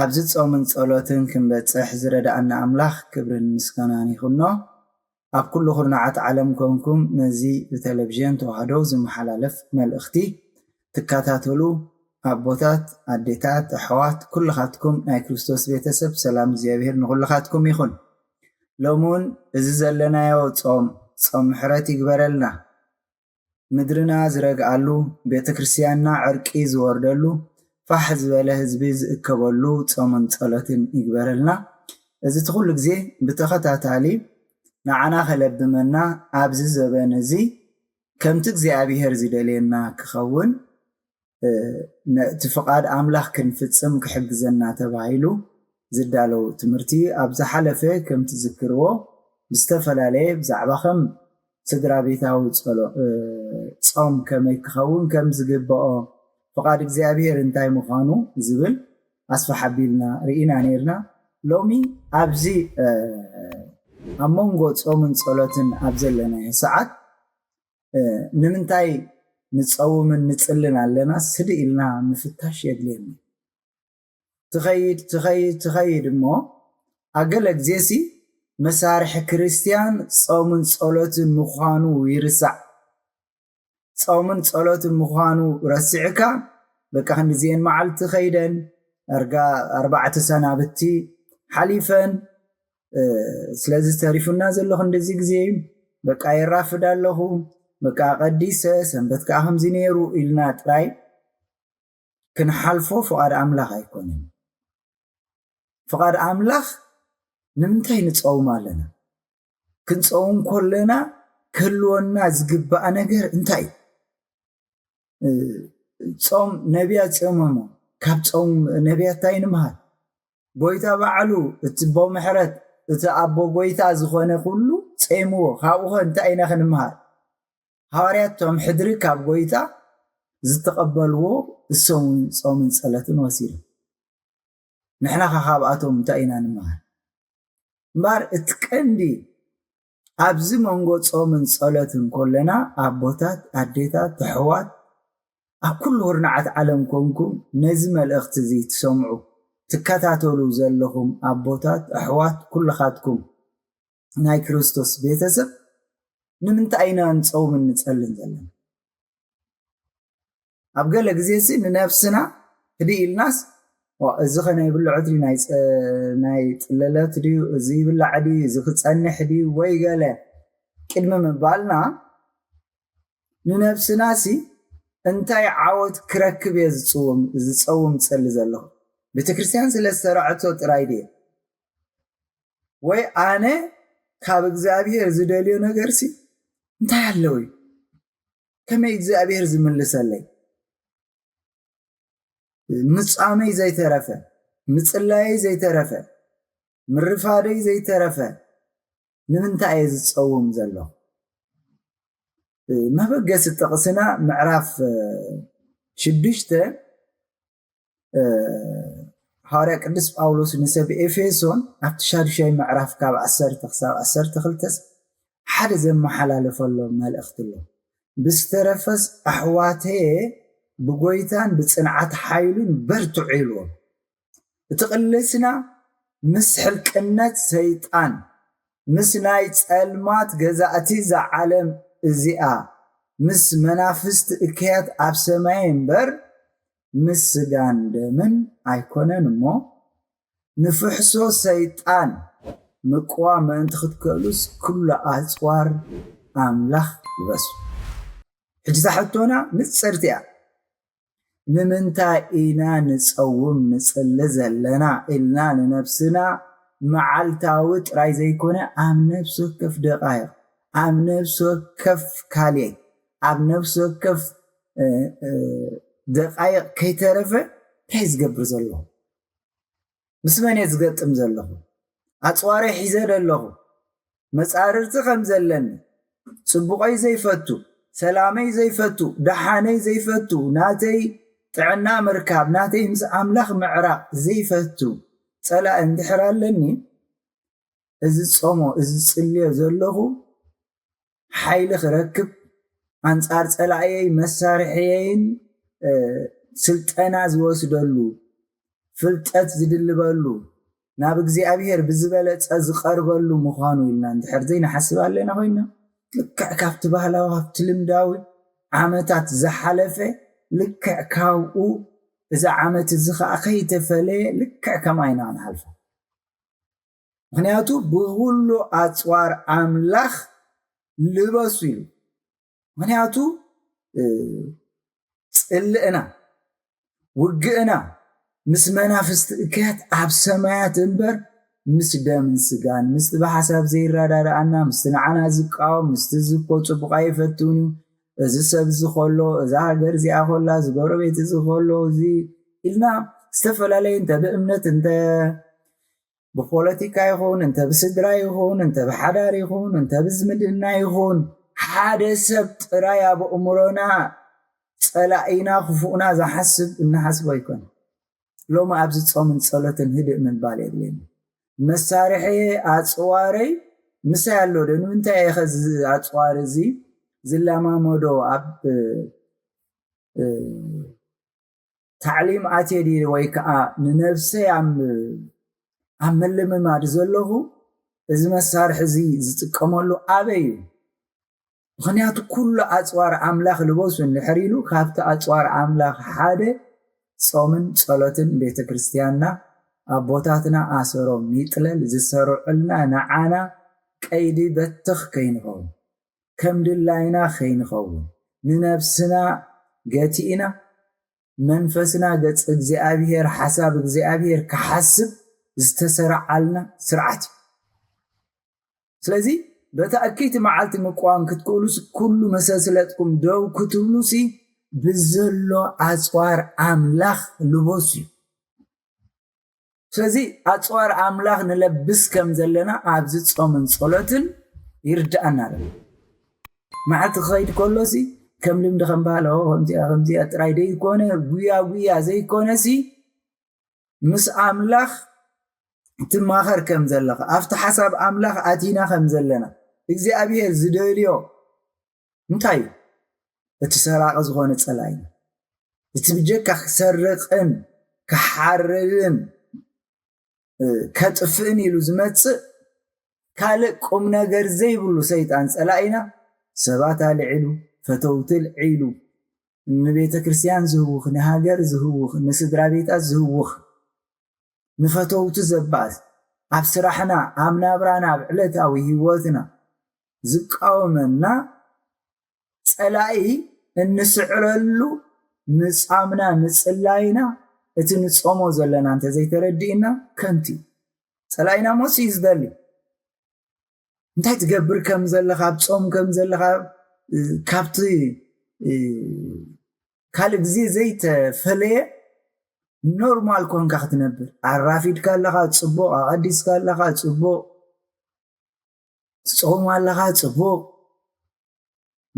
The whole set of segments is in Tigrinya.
ኣብዚ ጾምን ጸሎትን ክንበጽሕ ዝረድኣና ኣምላኽ ክብርን ምስጋናን ይኹኖ። ኣብ ኩሉ ኩርናዓት ዓለም ኮንኩም ነዚ ብተለቭዥን ተዋህዶ ዝመሓላለፍ መልእኽቲ ትካታተሉ ኣቦታት ኣዴታት ኣሕዋት ኩልኻትኩም ናይ ክርስቶስ ቤተሰብ ሰላም እግዚኣብሔር ንኹልኻትኩም ይኹን። ሎሚ ውን እዚ ዘለናዮ ጾም ጾም ምሕረት ይግበረልና። ምድርና ዝረግኣሉ፣ ቤተክርስቲያንና ዕርቂ ዝወርደሉ፣ ፋሕ ዝበለ ህዝቢ ዝእከበሉ ጾምን ጸሎትን ይግበረልና። እዚ'ቲ ኩሉ ግዜ ብተኸታታሊ ንዓና ከለብመና ኣብዚ ዘበን እዚ ከምቲ እግዚኣብሔር ዝደልየና ክኸውን፣ ነቲ ፍቓድ ኣምላኽ ክንፍጽም ክሕግዘና ተባሂሉ ዝዳለው ትምህርቲ ኣብ ዝሓለፈ ከም ትዝክርዎ ብዝተፈላለየ ብዛዕባ ከም ስድራቤታዊ ጾም ከመይ ክኸውን ከም ዝግበኦ ፍቓድ እግዚኣብሔር እንታይ ምዃኑ ዝብል ኣስፍሕ ኣቢልና ርኢና ኔርና ሎሚ ኣብዚ ኣብ መንጎ ጾምን ጸሎትን ኣብ ዘለናዮ ሰዓት ንምንታይ ንጸውምን ንጽልን ኣለና ስዲ ኢልና ምፍታሽ የድልየና። ትኸይድ ትኸይድ ትኸይድ እሞ ኣብ ገለ ግዜሲ መሳርሒ ክርስትያን ጾምን ጸሎትን ምዃኑ ይርሳዕ። ጾምን ጸሎትን ምዃኑ ረሲዕካ በቃ ክንዲዚኤን መዓልቲ ከይደን ኣርጋ ኣርባዕተ ሰናብቲ ሓሊፈን ስለዚ ተሪፉና ዘሎ ክንድዚ ግዜ እዩ በቃ የራፍድ ኣለኹ በቃ ቀዲሰ ሰንበት ከዓ ከምዚ ነይሩ ኢልና ጥራይ ክንሓልፎ ፍቓድ ኣምላኽ ኣይኮነን ፍቓድ ኣምላኽ ንምንታይ ንፀውም ኣለና ክንፀውም ኮለና ክህልወና ዝግባእ ነገር እንታይ እዩ ጾም ነቢያት ጾሞሞ ካብ ጾም ነቢያት ታይ ንምሃር ጎይታ ባዕሉ እቲ ኣቦ ምሕረት እቲ ኣቦ ጎይታ ዝኾነ ኩሉ ጼምዎ ካብኡኸ እንታይ ኢና ክንምሃር ሃዋርያት ቶም ሕድሪ ካብ ጎይታ ዝተቐበልዎ እሶም ውን ጾምን ጸለትን ወሲዶም ንሕናኸ ካብኣቶም እንታይ ኢና ንምሃር እምበር እቲ ቀንዲ ኣብዚ መንጎ ጾምን ጸሎትን ኮለና ኣቦታት ኣዴታት ኣሕዋት ኣብ ኩሉ ኩርናዓት ዓለም ኮንኩም ነዚ መልእኽቲ እዚ ትሰምዑ ትከታተሉ ዘለኹም ኣቦታት ኣሕዋት ኩልኻትኩም ናይ ክርስቶስ ቤተሰብ ንምንታይ ኢና ንጾምን ንጸልን ዘለና? ኣብ ገለ ግዜሲ ንነብስና ህድእ ኢልናስ ዋእ እዚኸ ናይ ብልዖት ድዩ ናይ ጥለለት ድዩ እዚ ይብላዕ ድዩ እዚ ክጸንሕ ድዩ ወይ ገለ ቅድሚ ምባልና ንነብስናሲ እንታይ ዓወት ክረክብ እየ ዝጽውም ዝጸውም ጸሊ ዘለኹ ቤተ ክርስቲያን ስለ ዝሰራዐቶ ጥራይ ድየ ወይ ኣነ ካብ እግዚኣብሔር ዝደልዮ ነገርሲ እንታይ ኣለውዩ ከመይ እግዚኣብሔር ዝምልሰለይ ምጻመይ ዘይተረፈ ምጽላየይ ዘይተረፈ ምርፋደይ ዘይተረፈ ንምንታይ እየ ዝፀውም ዘሎ መበገሲ ጥቕስና ምዕራፍ ሽዱሽተ ሃዋርያ ቅዱስ ጳውሎስ ንሰብ ኤፌሶን ኣብቲ ሻዱሻይ ምዕራፍ ካብ ዓሰርተ ክሳብ ዓሰርተ ክልተስ ሓደ ዘመሓላለፈሎም መልእኽቲ ኣሎ ብዝተረፈስ ኣሕዋተየ ብጎይታን ብፅንዓት ሓይሉን በርትዑ ኢልዎም እቲ ቅልስና ምስ ሕልቅነት ሰይጣን ምስ ናይ ጸልማት ገዛእቲ እዛ ዓለም እዚኣ፣ ምስ መናፍስቲ እከያት ኣብ ሰማይ እምበር፣ ምስ ስጋን ደምን ኣይኮነን እሞ፣ ንፍሕሶ ሰይጣን ምቅዋም ምእንቲ ክትክእሉስ ኩሉ ኣጽዋር ኣምላኽ ልበሱ። ሕጂ እታ ሕቶና ንጽርቲ እያ። ንምንታይ ኢና ንጸውም ንጽሊ ዘለና ኢልና ንነብስና መዓልታዊ ጥራይ ዘይኮነ ኣብ ነፍሲ ወከፍ ደቓይቕ፣ ኣብ ነፍሲ ወከፍ ካልየት፣ ኣብ ነፍሲ ወከፍ ደቓይቕ ከይተረፈ እንታይ ዝገብር ዘሎ? ምስ መን እየ ዝገጥም ዘለኹ? ኣጽዋረይ ሒዘ ዶ ኣለኹ? መጻርርቲ ከም ዘለኒ፣ ጽቡቐይ ዘይፈቱ፣ ሰላመይ ዘይፈቱ፣ ደሓነይ ዘይፈቱ፣ ናተይ ጥዕና ምርካብ፣ ናተይ ምስ ኣምላኽ ምዕራቕ ዘይፈቱ ጸላኢ እንድሕር ኣለኒ፣ እዚ ዝጾሞ፣ እዚ ዝጽልዮ ዘለኹ፣ ሓይሊ ክረክብ ኣንፃር ፀላእየይ መሳርሕየይን ስልጠና ዝወስደሉ ፍልጠት ዝድልበሉ ናብ እግዚኣብሔር ብዝበለፀ ዝቐርበሉ ምዃኑ ኢልና እንድሕር ዘይንሓስብ ኣለና ኮይና ልክዕ ካብቲ ባህላዊ ካብቲ ልምዳዊ ዓመታት ዝሓለፈ ልክዕ ካብኡ እዚ ዓመት እዚ ከዓ ከይተፈለየ ልክዕ ከምኣ ኢና ክንሓልፎ ምኽንያቱ ብኹሉ ኣጽዋር ኣምላኽ ልበሱ ኢሉ ምኽንያቱ ጽልእና ውግእና ምስ መናፍስቲ እከያት ኣብ ሰማያት እምበር ምስ ደምን ስጋን ምስቲ ብሓሳብ ዘይረዳድኣና ምስቲ ንዓና ዝቃወም ምስቲ ዝኮ ጽቡቕ ኣይፈትውን እዩ እዚ ሰብ እዚ ከሎ እዛ ሃገር እዚኣ ከላ እዚ ጎረቤት እዚ ከሎ እዚ ኢልና ዝተፈላለዩ እንተ ብእምነት እንተ ብፖለቲካ ይኹን እንተ ብስድራ ይኹን እንተ ብሓዳር ይኹን እንተ ብዝምድና ይኹን ሓደ ሰብ ጥራይ ኣብ ኣእምሮና ጸላኢና ክፉእና ዝሓስብ እንሓስቦ ኣይኮነ ሎሚ ኣብዚ ጾምን ጸሎትን ህድእ ምባል የድልየኒ መሳርሒ ኣጽዋረይ ምሳይ ኣሎ ዶ ንምንታይ እየ ከዚ ኣጽዋር እዚ ዝለማመዶ ኣብ ታዕሊም ኣትየ ድየ ወይ ከዓ ንነብሰይ ኣብ ምልምማድ ዘለኹ እዚ መሳርሒ እዚ ዝጥቀመሉ ኣበይ እዩ? ምኽንያቱ ኩሉ ኣፅዋር ኣምላኽ ልበሱ እንድሕር ኢሉ ካብቲ ኣፅዋር ኣምላኽ ሓደ ፆምን ፀሎትን ቤተ ክርስቲያንና ኣቦታትና ኣሰሮም ይጥለል ዝሰርዑልና ንዓና ቀይዲ በትኽ ከይንኸውን ከም ድላይና ኸይንኸውን ንነፍስና ገቲእና መንፈስና ገጽ እግዚኣብሄር ሓሳብ እግዚኣብሄር ክሓስብ ዝተሰራዓልና ስርዓት እዩ። ስለዚ በታ እክይቲ መዓልቲ ምቅዋም ክትክእሉስ ኩሉ መሰስለጥኩም ደው ክትብሉሲ ብዘሎ ኣጽዋር ኣምላኽ ልበሱ እዩ። ስለዚ ኣጽዋር ኣምላኽ ንለብስ ከም ዘለና ኣብዚ ጾምን ጸሎትን ይርድኣና ኣሎ። መዓልቲ ክኸይድ ከሎሲ ከም ልምዲ ከም ባህል ከምዚኣ ከምዚኣ ጥራይ ዘይኮነ ጉያ ጉያ ዘይኮነሲ ምስ ኣምላኽ ትማኸር ከም ዘለኻ ኣብቲ ሓሳብ ኣምላኽ ኣቲና ከም ዘለና እግዚኣብሄር ዝደልዮ እንታይ እዩ እቲ ሰራቂ ዝኮነ ጸላኢ እቲ ብጀካ ክሰርቅን ክሓርድን ከጥፍእን ኢሉ ዝመጽእ ካልእ ቁም ነገር ዘይብሉ ሰይጣን ጸላኢና ሰባት ኣልዒሉ ፈተውቲ ኣልዒሉ ንቤተ ክርስቲያን ዝህውኽ ንሃገር ዝህውኽ ንስድራ ቤታት ዝህውኽ ንፈተውቱ ዘባእስ፣ ኣብ ስራሕና፣ ኣብ ናብራና፣ ኣብ ዕለታዊ ህይወትና ዝቃወመና ፀላኢ እንስዕረሉ ምፃምና ምፅላይና እቲ ንፆሞ ዘለና እንተዘይተረዲእና ከንቱ እዩ። ፀላኢና ሞት እዩ ዝደሊ። እንታይ ትገብር ከም ዘለኻ፣ ኣብ ፆም ከም ዘለኻ ካብቲ ካልእ ግዜ ዘይተፈለየ ኖርማል ኮንካ ክትነብር ኣራፊድካ ኣለኻ ጽቡቕ ኣቐዲስካ ኣለኻ ጽቡቕ ትጾም ኣለኻ ጽቡቕ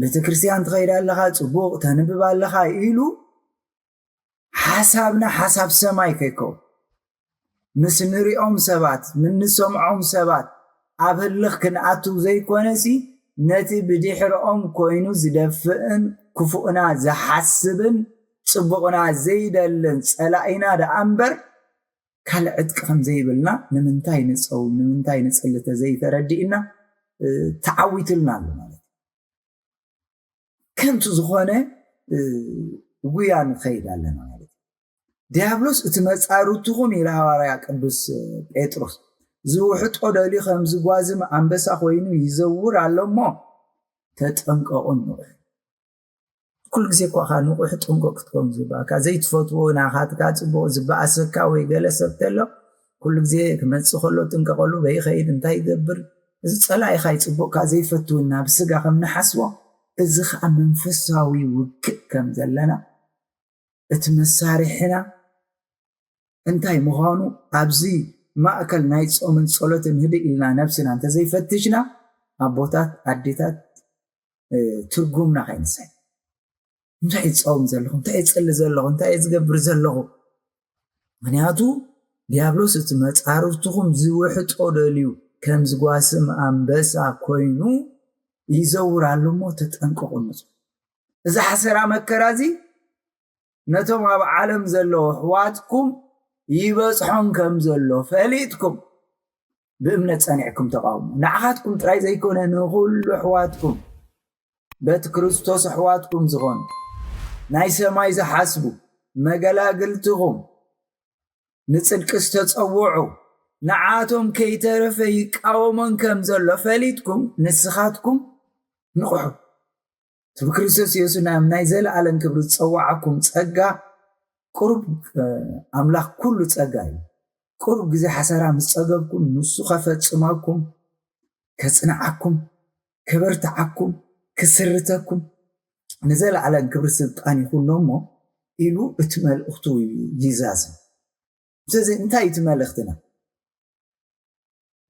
ቤተ ክርስቲያን ትኸይድ ኣለኻ ጽቡቕ ተንብብ ኣለኻ ኢሉ ሓሳብና ሓሳብ ሰማይ ከይከውን ምስ እንሪኦም ሰባት፣ ምስ እንሰምዖም ሰባት ኣብ ህልኽ ክንኣትው ዘይኮነሲ ነቲ ብድሕረኦም ኮይኑ ዝደፍእን ክፉእና ዝሓስብን ጽቡቕና ዘይደልን ጸላኢና ደኣ እምበር ካልእ ዕጥቂ ከም ዘይብልና ንምንታይ ንጸውም ንምንታይ ንጽሊ ተዘይተረዲእና ተዓዊቱልና ኣሎ ማለት እዩ። ከንቱ ዝኾነ ጉያ ንኸይድ ኣለና ማለት እዩ ዲያብሎስ እቲ መፃርትኹም ኢለ ሃዋርያ ቅዱስ ጴጥሮስ ዝውሕጦ ደልዩ ከም ዝጓዝም ኣንበሳ ኮይኑ ይዘውር ኣሎ እሞ ተጠንቀቑ ንቑሑ ኩሉ ግዜ እኳ ካ ንቑሕ ጥንቁቕ ክትከውን ዝበካ ዘይትፈትዎ ናኻትካ ፅቡቕ ዝበኣሰካ ወይ ገለ ሰብ ተሎ ኩሉ ግዜ ክመጽእ ከሎ እጥንቀቐሉ፣ በይ ይኸይድ፣ እንታይ ይገብር፣ እዚ ጸላኢኻ እዩ፣ ጽቡቕ ከኣ ዘይፈቱ ኢልና ኣብ ስጋ ከም ንሓስቦ፣ እዚ ከኣ መንፈሳዊ ውግእ ከም ዘለና፣ እቲ መሳርሒና እንታይ ምዃኑ ኣብዚ ማእከል ናይ ጾምን ጸሎትን ህድእ ኢልና ነብስና እንተ ዘይፈትሽና ኣቦታት ኣዴታት ትርጉምና ከይንስሕት። እንታይ እዩ ዝፃወም ዘለኹ እንታይ እዩ ዝፅሊ ዘለኹ እንታይ እዩ ዝገብር ዘለኹ ምክንያቱ ዲያብሎስ እቲ መፃርፍትኹም ዝውሕጦ ደልዩ ከም ዝጓስም ኣንበሳ ኮይኑ ይዘውር ኣሎ እሞ ተጠንቀቑ ንፁ እዚ ሓሰራ መከራ እዚ ነቶም ኣብ ዓለም ዘለዉ ኣሕዋትኩም ይበፅሖም ከም ዘሎ ፈሊጥኩም ብእምነት ጸኒዕኩም ተቓውሙ። ንዓኻትኩም ጥራይ ዘይኮነ ንኹሉ ኣሕዋትኩም በቲ ክርስቶስ ኣሕዋትኩም ዝኾኑ ናይ ሰማይ ዝሓስቡ መገላግልትኹም ንጽድቂ ዝተጸውዑ ንዓቶም ከይተረፈ ይቃወሞን ከም ዘሎ ፈሊጥኩም ንስኻትኩም ንቕሑ። እቲ ብክርስቶስ የሱስ ናብ ናይ ዘለኣለም ክብሪ ዝጸዋዓኩም ጸጋ ቁሩብ ኣምላኽ ኩሉ ጸጋ እዩ ቁሩብ ግዜ ሓሰራ ምስ ጸገብኩም ንሱ ከፈጽመኩም ከጽንዓኩም ከበርትዓኩም ክስርተኩም ንዘለዓለም ክብሪ ስልጣን ይኹኖ እሞ ኢሉ እቲ መልእኽቱ ይዛዝም ስለዚ እንታይ እቲ መልእኽትና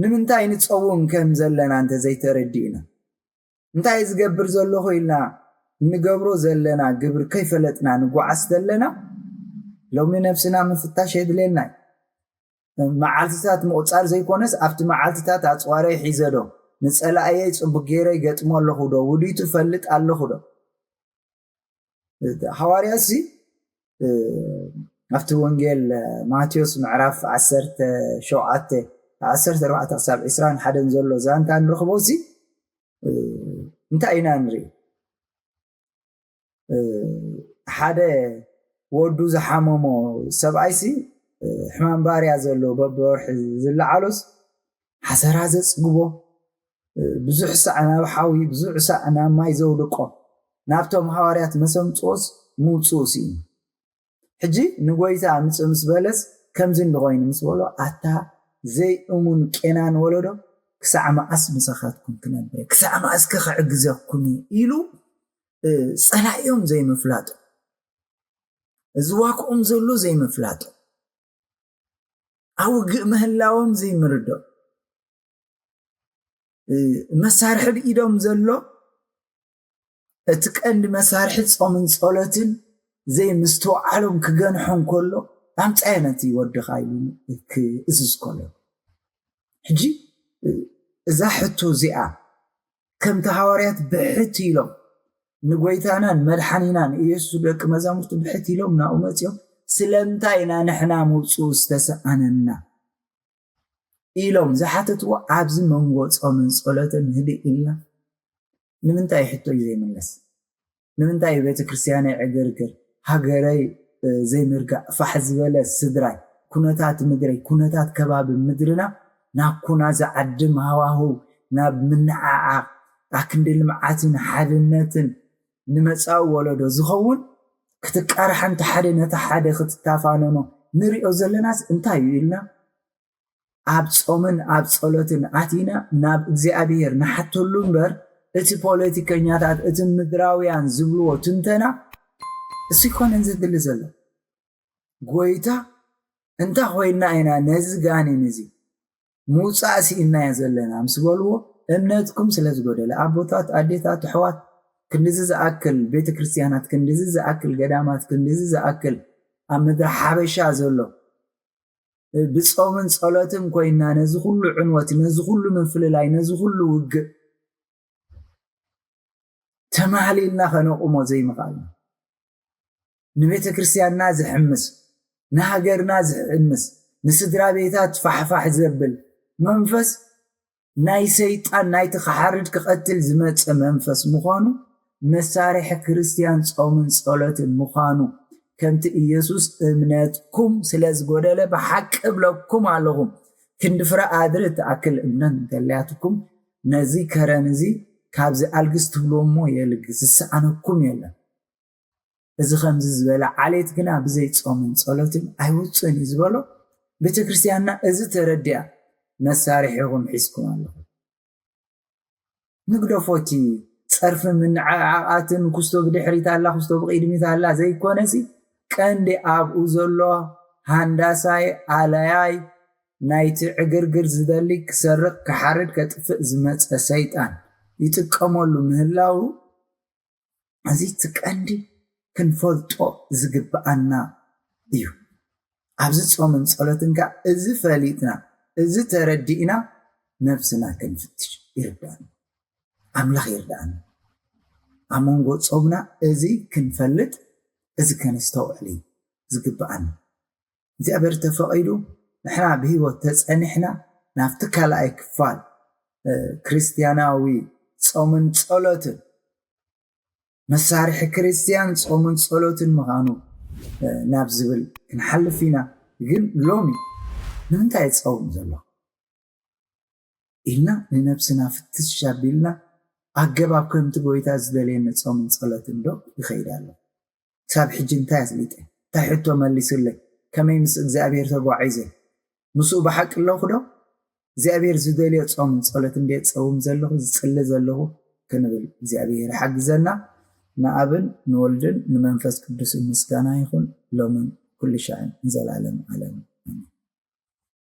ንምንታይ ንጸውም ከም ዘለና እንተዘይተረዲእና እንታይ ዝገብር ዘሎኹ ኢልና እንገብሮ ዘለና ግብር ከይፈለጥና ንጓዓዝ ተለና ሎሚ ነብስና ምፍታሽ የድልየና እዩ። መዓልትታት ምቑጻር ዘይኮነስ ኣብቲ መዓልትታት ኣጽዋረይ ሒዘ ዶ ንጸላእየይ ጽቡቅ ጌረ ይገጥሞ ኣለኹ ዶ ውዲቱ እፈልጥ ኣለኹ ዶ? ሃዋርያ እዚ ኣብቲ ወንጌል ማቴዎስ ምዕራፍ 17 14 ክሳብ 21 ዘሎ ዛንታ ንረኽቦ እዚ እንታይ ኢና ንርኢ ሓደ ወዱ ዝሓመሞ ሰብኣይሲ ሕማም ባርያ ዘሎ በብወርሒ ዝለዓሎስ ሓሰራ ዘጽግቦ ብዙሕ ሳዕ ናብ ሓዊ ብዙሕ ሳዕ ናብ ማይ ዘውድቆ ናብቶም ሃዋርያት መሰምጽኦስ ምውጽኡ ስኢኑ ሕጂ ንጎይታ ምጽእ ምስ በለስ ከምዚ እንዲ ኮይኑ ምስ በሎ ኣታ ዘይእሙን ቄናን ወለዶ ክሳዕ መኣስ ምሳኻትኩም ክነብር ክሳዕ መኣስከ ክዕግዘኩም ኢሉ ጸላኢኦም ዘይምፍላጡ ዝዋክኦም ዘሎ ዘይምፍላጡ ኣብ ውግእ ምህላዎም ዘይምርድኦ መሳርሒ ኣብ ኢዶም ዘሎ እቲ ቀንዲ መሳርሒ ጾምን ጸሎትን ዘይምስትውዓሎም ክገንሖም ከሎ ኣምጻዮ ነቲ ወድኻ ኢሉ ክእዝዝ ከሎ ሕጂ እዛ ሕቶ እዚኣ ከምቲ ሃዋርያት ብሕት ኢሎም ንጐይታናን መድሓኒናን ኢየሱስ ደቂ መዛሙርቲ ብሕት ኢሎም ናብኡ መጺኦም ስለምንታይ ኢና ንሕና ምውጽኡ ዝተሰኣነና ኢሎም ዝሓተትዎ ኣብዚ መንጎ ጾምን ጸሎትን ህድእ ኢልና ንምንታይ ሕቶይ ዘይምለስ ንምንታይ ቤተክርስቲያነይ ዕግርግር ሃገረይ ዘይምርጋእ ፋሕ ዝበለ ስድራይ ኩነታት ምድረይ ኩነታት ከባቢ ምድርና ናብ ኩና ዝዓድም ሃዋህው ናብ ምንዕዓቕ ኣክንዲ ልምዓትን ሓድነትን ንመጻኡ ወለዶ ዝኸውን ክትቃራሕ እንተ ሓደ ነቲ ሓደ ክትታፋነኖ ንሪኦ ዘለናስ እንታዩ ኢልና ኣብ ጾምን ኣብ ጸሎትን ኣቲና ናብ እግዚኣብሔር ንሓተሉ እምበር እቲ ፖለቲከኛታት እቲ ምድራውያን ዝብልዎ ትንተና እሱ ይኮነን ዘድሊ ዘሎ ጎይታ እንታ ኮይና ኢና ነዚ ጋኔን እዚ ምውፃእ ስኢናዮ ዘለና ምስ በልዎ እምነትኩም ስለ ዝጎደለ ኣቦታት ኣዴታት ኣሕዋት ክንድዚ ዝኣክል ቤተ ክርስቲያናት ክንድዚ ዝኣክል ገዳማት ክንድዚ ዝኣክል ኣብ ምድሪ ሓበሻ ዘሎ ብጾምን ጸሎትን ኮይና ነዚ ኩሉ ዕንወት ነዚ ኩሉ ምፍልላይ ነዚ ኩሉ ውግእ ተማህሊልና ከነቁሞ ዘይምኽኣልና ንቤተ ክርስቲያንና ዝሕምስ ንሃገርና ዝሕምስ ንስድራ ቤታት ፋሕፋሕ ዘብል መንፈስ ናይ ሰይጣን ናይቲ ክሓርድ ክቐትል ዝመጸ መንፈስ ምዃኑ መሳርሒ ክርስትያን ጾምን ጸሎትን ምዃኑ ከምቲ ኢየሱስ እምነትኩም ስለ ዝጎደለ ብሓቂ እብለኩም ኣለኹ ክንዲ ፍረ ኣድሪ እትኣክል እምነት እንተልያትኩም ነዚ ከረን እዚ ካብዚ ኣልግስ ትብልዎ እሞ የልግስ ዝሰኣነኩም የለን እዚ ኸምዚ ዝበለ ዓሌት ግና ብዘይ ጾምን ጸሎትን ኣይወጽእን እዩ ዝበሎ ቤተ ክርስትያንና እዚ ተረዲኣ መሳርሒኹም ሒዝኩም ኣለኹም ንግደፎ እቲ ጸርፊ ምንዕዓቓትን ኩስቶ ብድሕሪት ኣላ ኩስቶ ብቕድሚት ኣላ ዘይኮነሲ ቀንዲ ኣብኡ ዘሎ ሃንዳሳይ ኣለያይ ናይቲ ዕግርግር ዝደሊ ክሰርቕ ክሓርድ ከጥፍእ ዝመጸ ሰይጣን ይጥቀመሉ ምህላዉ እዚ እቲ ቀንዲ ክንፈልጦ ዝግብኣና እዩ። ኣብዚ ጾምን ጸሎትን ከኣ እዚ ፈሊጥና እዚ ተረዲእና ነብስና ክንፍትሽ ይርዳኣና። ኣምላኽ ይርዳኣና ኣብ መንጎ ጾምና እዚ ክንፈልጥ እዚ ከነስተውዕል እዩ ዝግብኣና። እግዚኣብሔር ተፈቒዱ ንሕና ብህይወት ተጸኒሕና ናብቲ ካልኣይ ክፋል ክርስትያናዊ ጾምን ጸሎትን መሳርሒ ክርስትያን ጾምን ጸሎትን ምዃኑ ናብ ዝብል ክንሓልፍ ኢና ግን ሎሚ ንምንታይ ጸውም ዘሎ ኢልና ንነብስና ፍትሽ ኣቢልና ኣገባብ ከምቲ ጎይታ ዝደልየኒ ጾምን ጸሎትን ዶ ይኸይድ ኣሎ ክሳብ ሕጂ እንታይ ኣስሊጠ እንታይ ሕቶ መሊሱለይ ከመይ ምስ እግዚኣብሄር ተጓዒዘ ምስኡ ብሓቂ ኣለኹ ዶ እግዚኣብሄር ዝደልዮ ጾምን ጸሎት እንድየ ዝጸውም ዘለኹ ዝጽሊ ዘለኹ ክንብል እግዚኣብሄር ይሓግዘና ንኣብን ንወልድን ንመንፈስ ቅዱስን ምስጋና ይኹን ሎምን ኩሉ ሻዕን ንዘላለም ዓለም ኣሜን።